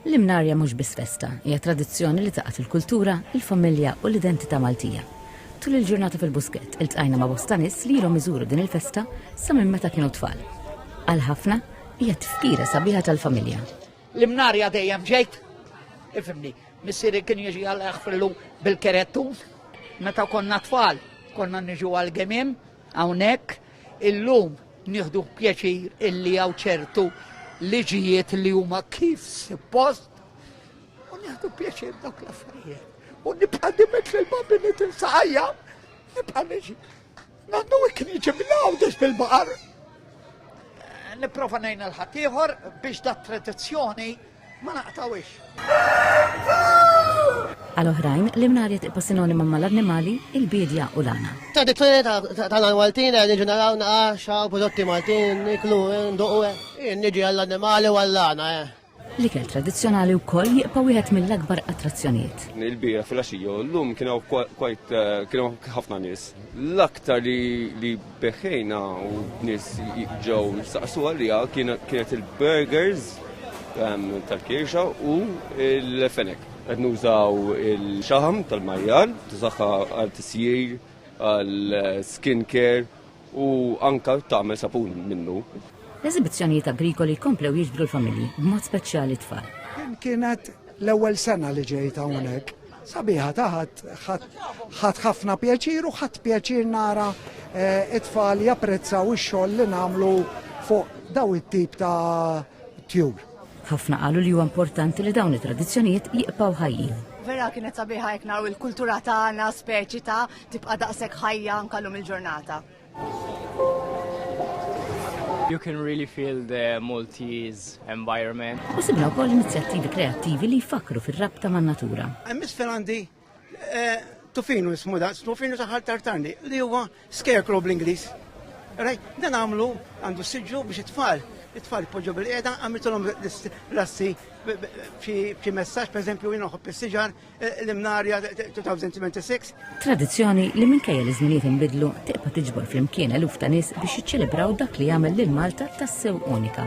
L-imnarja mhux biss festa, hija tradizzjoni li tgħaqqad il-kultura, il-familja u l-identità Maltija. Tul il-ġurnata fil-Buskett iltqajna ma' bosta nies li ilhom iżuru din il-festa sa minn meta kienu tfal. Għal ħafna, hija tifkira sabiħa tal-familja. L-imnarja dejjem ġejt, ifhimni, missieri kien jiġi għal ħfillu bil-kerettun, meta konna tfal, konna niġu għall-gemiem, Hawnhekk illum nieħdu pjaċir illi hawn ċertu liġijiet li huma kif suppost u nieħdu pjaċir dawk l-affarijiet. U nibqa' dimet lil babi li tinsaqajja, nibqa' niġi. Nandu ikniġi mill-għawdex bil-baqar. Niprofa nejn l-ħaddieħor biex dat tradizzjoni Ma naqtawiex. Għal oħrajn, l-imnariet ipa sinonima ma l-annimali, il-bidja u l-għana. Tradizzjoni tal-għan Maltin, nġu naraw naqaxa, prodotti Maltin, niklu, nduqu, eh. nġi għall-annimali u għall-għana. Eh. L-ikel tradizjonali u koll jiqpa wieħed mill-akbar attrazzjonijiet. Il-bira fil-axiju, l-lum kienu eh, kienu ħafna nis. L-aktar li Beħħejna u nies ġew saqsu għalija kienet il-burgers ehm, tal-kirxa u l-fenek. Qed nużaw il-xaħam tal-majjal, tużaħħa għal tisjir, għal skin care u anka tagħmel sapun minnu. L-eżibizzjonijiet agrikoli komplew jiġbru l-familji, b'mod speċjali tfal. Kienet l-ewwel sena li ġejt hawnhekk Sabiħa taħat ħadd ħafna pjaċir u ħadd pjaċir nara eh, it-tfal japprezzaw ix-xogħol li nagħmlu fuq daw it-tip ta' tjur. Ħafna qalu li huwa importanti li dawn it-tradizzjonijiet jiqpaw ħajjin. Vera kienet sabiħa jekk naraw il-kultura tagħna speċi ta' tibqa' daqshekk ħajja nkallum il-ġurnata. You can really feel the Maltese environment. U sibna wkoll inizjattivi kreattivi li jfakru fir-rabta man natura. Miss Ferrandi, eh, tufinu ismu da, tufinu taħal tartarni, li huwa scarecrow bl-Inglis. Raj, dan għamlu għandu siġu biex it-tfal, it-tfal poġġu bil-qeda, għamiltulhom l-assi b'xi messaġġ, per eżempju, jien noħob is-siġar, L-imnarja 2026. Tradizzjoni li minkejja li żminijiet inbidlu tibqa' tiġbor flimkien eluf ta' nies biex jiċċelebraw dak li jagħmel lil Malta tassew unika.